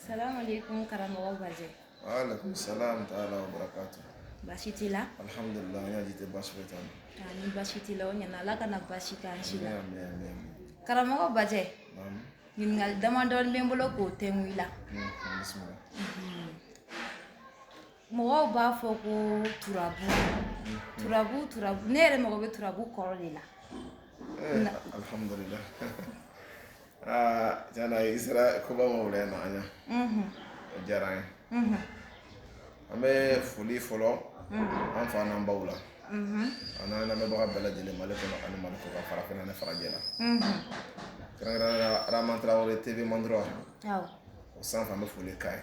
Salam alaikum karamɔgɔ Badji. Wa alaikum salam taala wa barakatu. Basi t'i la? Alhamdulillah an ka jite basi foyi t'an na. Aa ni basi t'i la o ɲana Ala kana basi k'an si la. Ami ami ami. Karamɔgɔ Badji. Naam. Ɲininkali damadɔni bɛ n bolo k'o tɛngu i la. Unhun bisimila. Unhun. Mɔgɔw b'a fɔ ko turabu turabu turabu ne yɛrɛ mago bɛ turabu kɔrɔ de la alihamdulilayi jaa i sera koba ma wɛrɛ na an ɲa o diyara an ye an bɛ foli fɔlɔ an fa n'an baw la an n'an lamɛnbaga bɛɛ lajɛlen mali kɔnɔ ani mali kɔkan farafinna ni farajɛla kɛrɛnkɛrɛnnenya la aramata tarawɛrɛ tv mandura o sanfɛ an bɛ foli k'a ye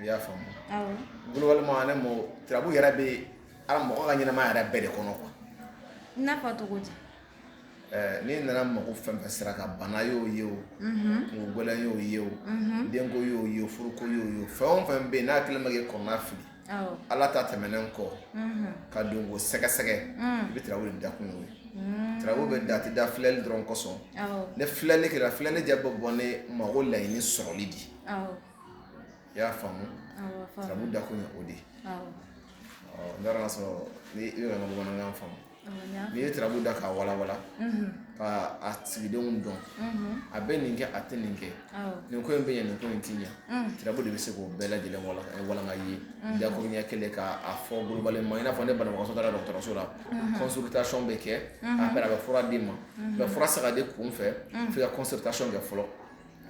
i y'a faamu globalement en un mot turabu yɛrɛ bɛ ala mɔgɔ ka ɲɛnamaya yɛrɛ bɛɛ de kɔnɔ quoi i n'a fɔ cogo di eh, n'i nana mako fɛn o fɛn sira kan bana y'o ye o mhm. kunko gɛlɛn y'o ye o mhm. denko y'o ye o furuko y'o ye o fɛn o fɛn bɛ yen n'a kɛlen bɛ k'i kɔnɔnafili ala ta tɛmɛnen kɔ mhm. k'a dɔn k'o sɛgɛsɛgɛ mm. i bɛ turabu de da kun y'o ye Mm. turabu bɛ da a tɛ da filɛli dɔrɔn kosɔn ni filɛli kɛra filɛli ju bɛ bɔ ne mago laɲini sɔrɔli de i y'a faamu turabu da kun o di n taara y'a sɔrɔ n i bɛ ka bamanankan faamu n'i ye turabu da k'a walawala ka a sigidenw dɔn a bɛ nin kɛ a tɛ nin kɛ nin ko in bɛ ɲɛ nin ko in tɛ ɲɛ turabu de bɛ se k'o bɛɛ lajɛlen walawala i ye dakuruɲɛ kelen k'a fɔ globalement i n'a fɔ ne banaso da dɔgɔtɔrɔso la consultation bɛ kɛ a bɛ a bɛ fura d'i ma mɛ fura tɛ se ka di kunfɛ fo i ka consultation kɛ fɔlɔ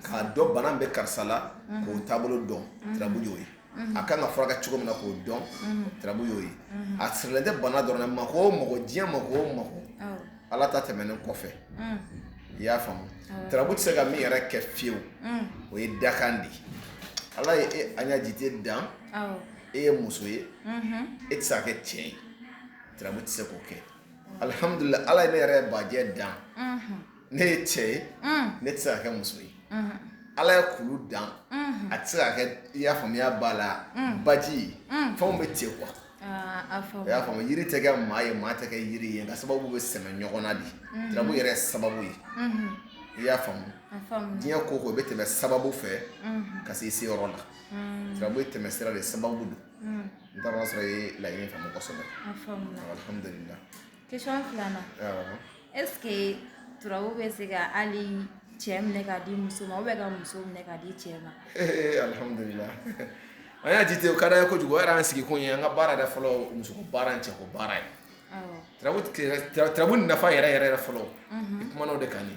k'a dɔn bana bɛ karisa la k'o taabolo dɔn turabu y'o ye a ka kan ka furakɛ cogo min na k'o dɔn turabu y'o ye a sirilen tɛ bana dɔrɔn ma ko mɔgɔ diɲɛ mako o mako ala ta tɛmɛnen kɔfɛ i y'a faamu turabu tɛ se ka min yɛrɛ kɛ fewu o ye dakan de ye ala ye e an ka jite dan e ye muso ye e tɛ se kɛ cɛ ye turabu tɛ se k'o kɛ alihamdulila ala ye ne yɛrɛ baji dan ne ye cɛ ye ne tɛ se ka kɛ muso ye ala ye kulu dan a tɛ se ka kɛ i y'a faamuya ba la baji ye fɛnw bɛ ten quoi i y'a faamu yiri tɛ kɛ maa ye maa tɛ kɛ yiri ye nka sababu bɛ sɛmɛ ɲɔgɔn na turabu yɛrɛ sababu ye i y'a faamu diɲɛ ko o ko bɛ tɛmɛ sababu fɛ ka se seyɔrɔ la turabu ye tɛmɛsira de sababu don n taara sɔrɔ i ye laɲini faamu kosɛbɛ alihamudulila Kesɔn filanan ese turabu bɛ se ka hali cɛ minɛ k' di muso ma bɛ ka muso minɛ k' di cɛ ma a y'a jate o ka ye kojugu yɛrɛ an sigikun ye an ka baara yɛrɛ fɔlɔ musoko baara ni cɛko baara ye turabu nafa yɛrɛ yɛrɛ fɔlɔ i kumana de ka ɲɛ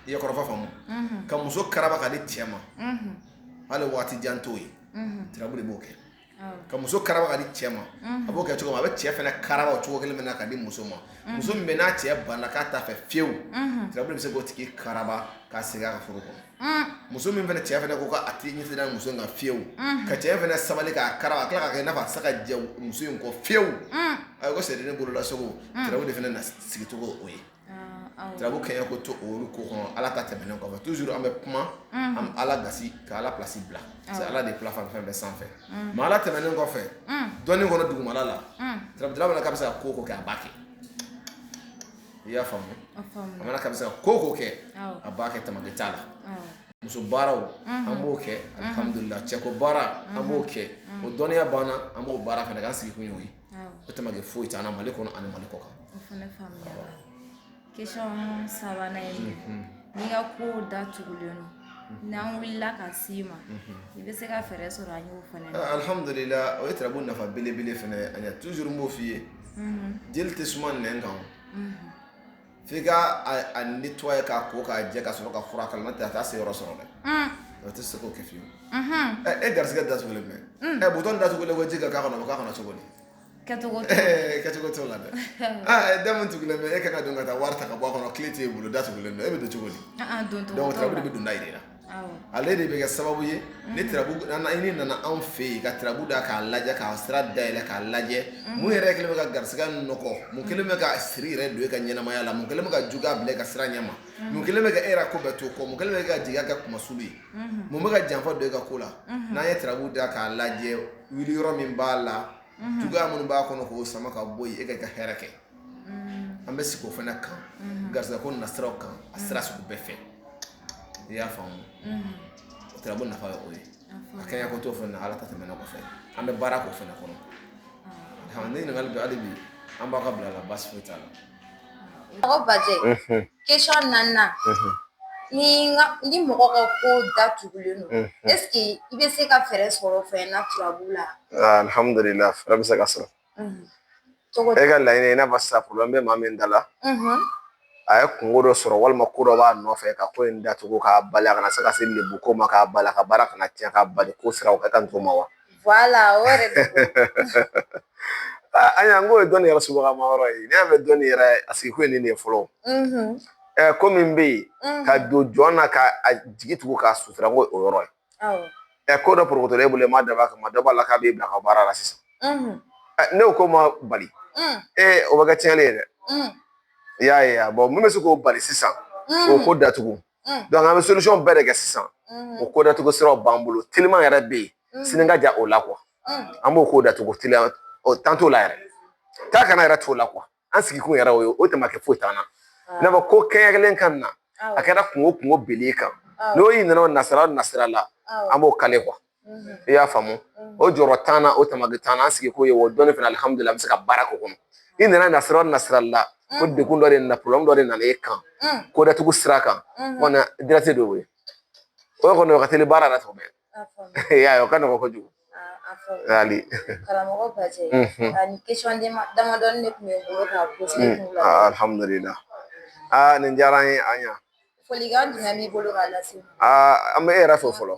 i ye kɔrɔfɔ faamu ka muso karaba ka di cɛ ma hali waati jan t'o ye turabu de b'o kɛ ka muso karaba ka di cɛ ma a b'o kɛ cogo min a bɛ cɛ fana karaba o cogo kelen min na ka di muso ma muso min bɛ n'a cɛ banna k'a t'a fɛ fiyewu turabu de bɛ se k'o tigi karaba k'a segin a ka furu kɔnɔ muso min fana cɛ fana ko k'a tigi ɲɛ sera muso ka fiyewu ka cɛ fana sabali k'a karaba a tila ka kɛ n'a fa sa ka jɛ muso in kɔ fiyewu a ko seri ne bolola segu turabu de fana na sigicogo o ye Turabu kɛ ko to olu ko kɔnɔ ala ta tɛmɛnen kɔfɛ tu an bɛ kuma an ala ga ka ala plasi bila ala de fila fan fɛn bɛɛ sanfɛ mais ala tɛmɛnen kɔfɛ dɔn kɔnɔ dugumala la dɔrɔnla ka bɛ se ka ko o ko kɛ a b'a kɛ i y'a faamu a mana ka bɛ se ka ko o ko kɛ a b'a kɛ tamaki t'a la musoko baara an b'o kɛ alihamdulila cɛko baara an b'o kɛ o dɔnniya banna an b'o baara fana ka sigikun ye o tamaki foyi t'a la mali kɔnɔ ani mali kɔkan o fana faamuya kesɔn sabanan ye mhm. n'i ka ko datugulen don mhm. n'an wulila ka se i ma mhm. i bɛ se ka fɛɛrɛ sɔrɔ an y'o fana ah, alihamudulila o ye turabu nafa belebele fana ye an y'a tuzuru n b'o f'i ye jeli tɛ suma nɛn kan F'i ka a a nettoyer k'a ko k'a jɛ ka sɔrɔ ka fura k'a la n'o tɛ a t'a seyɔrɔ sɔrɔ dɛ unnn o te se k'o kɛ fiyewu unhun ɛ e garisigɛ datugulen bɛ unn ɛ bidon datugulen ko ji ka k'a kɔnɔ o be k'a kɔnɔ cogodi kɛcogo t'o la ee kɛcogo t'o la dɛ aa e da min tugulen bɛ e ka ka don ka taa wari ta ka bɔ a kɔnɔ kile t'e bolo da tugulen don e be don cogodi an-an doncogo t'o la donc o tuma e be donda jira i la ale de bɛ kɛ sababu ye ni i nana anw fɛ yen ka turabu da k'a lajɛ k'a sira da yɛlɛ k'a lajɛ mun yɛrɛ kɛlen bɛ ka garisɛgɛ nɔgɔ mun kɛlen bɛ ka siri yɛrɛ don e ka ɲɛnamaya la mun kɛlen bɛ ka ju bila ka sira ɲɛma mun kɛlen bɛ ka e ko bɛ to kɔ mun kɛlen bɛ ka jigi kɛ kumasi ye mun bɛ ka janfa don e ka ko la n'an ye turabu da k'a lajɛ wuli yɔrɔ min b'a la ju minnu b'a kɔnɔ k'o sama ka bɔ e kan ka hɛɛrɛ kɛ an bɛ sigi o fana kan garisɛgɛ ko nasiraw kan a sira sugu bɛɛ fɛ i y'a faamu turabu nafa ye o ye a kɛ ko to fana ala ta tɛmɛnen kɔfɛ an bɛ baara ko fana kɔnɔ ne ɲininkali don hali bi an bɛ k'a bila i la basi foyi t'a la mɔgɔ bajɛ ke na ni ni mɔgɔ ka ko datugulen don ese i bɛ se ka fɛɛrɛ sɔrɔ fana turabu la alihamdulila fɛɛrɛ bɛ se ka sɔrɔ e ka laɲini i n'a fɔ sisan problème bɛ maa min da la a ye kunko dɔ sɔrɔ walima ko dɔ b'a nɔfɛ ka ko in datugu k'a bali a kana se ka se lebu ko ma k'a bali a ka baara kana cɛn ka bali ko siraw ka kan tɔgɔma wa ayiwa n ko ye dɔnni yɛrɛ subagama yɔrɔ ye ne y'a mɛn dɔnni yɛrɛ a sigi kun ye nin de ye fɔlɔ ko min bɛ yen ka don jɔn na ka a jigi tugu k'a sutura ko o yɔrɔ ye Awɔ. Ɛ ko dɔ porokotolen e bolo i m'a dabɔ a kama dɔ b'a la k'a b'e bila ka baara la sisan. Ɛ n'o ko ma bali. Ee o bɛ kɛ tiɲɛni ye dɛ. I y'a ye a mun bɛ se k'o bali sisan k'o ko datugu an bɛ solution bɛɛ de kɛ sisan o ko datugu siraw b'an bolo telima yɛrɛ bɛ yen sini ka jan o la an b'o ko datugu teliya o t'an t'o la yɛrɛ taa ka na yɛrɛ t'o la an sigi kun yɛrɛ o ye o tun ma kɛ foyi t'an na i n'a fɔ ko kɛɲɛkelen ka na a kɛra kunko o kunko binlen e kan n'o i nana o nasira o nasira la an b'o kale kuwa i y'a faamu o jɔrɔ t'an na o tama bɛ t'an na an sigi kun ye o dɔnni fana alihamudulila an bɛ se ka baara k'o kɔnɔ i nana nasira o nasira la ko degun dɔ de nana dɔ de nana e kan ko datugu sira kan o kɔni o ye o kɔni o ka teli baara la tuma bɛɛ y'a ye o ka nɔgɔn kojugu hali karamɔgɔ Bajɛ ani damadɔni de tun bɛ n bolo ka poze aa nin diyara an ye an ɲa folikan jumɛn b'i bolo k'a lase n ma aa an bɛ e yɛrɛ fo fɔlɔ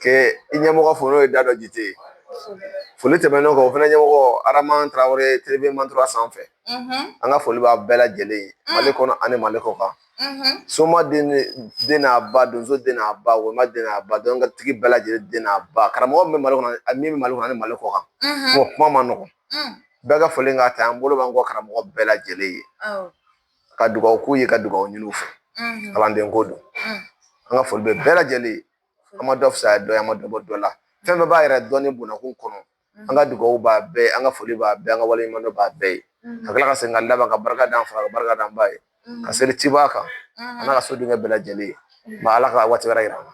kɛ i ɲɛmɔgɔ fo n'o ye Dadɔ Jite ye foli tɛmɛnen o kan o fana ɲɛmɔgɔ Araman Tarawele televimantura sanfɛ an ka foli b'a bɛɛ lajɛlen ye Mali kɔnɔ ani Mali kɔkan soma den n'a ba donso den n'a ba walima den n'a ba dɔnkotigi bɛɛ lajɛlen den n'a ba karamɔgɔ min bɛ mali kɔnɔ a min bɛ mali kɔnɔ ni mali kɔ kan o kuma ma nɔgɔn bɛɛ ka foli ka ta an bolo b'an kɔ karamɔgɔ bɛɛ lajɛlen ye ka dugawu k'u ye ka dugawu ɲini u fɛ kalanden ko don an ka foli bɛ bɛɛ lajɛlen an ma dɔ fisaya dɔ ye an ma dɔ bɔ dɔ la fɛn bɛɛ b'a yɛrɛ dɔn ni bɔnna ko kɔnɔ an ka dugawu b'a bɛɛ ye an ka foli b'a bɛɛ ye an ka waleɲumandɔn b'a bɛɛ ye ka tila ka segin ka laban ka barika da an fa ka barika da an ba ye ka seli cibaa kan a n'a ka so denkɛ bɛɛ lajɛlen Ala ka waati wɛrɛ yira an na.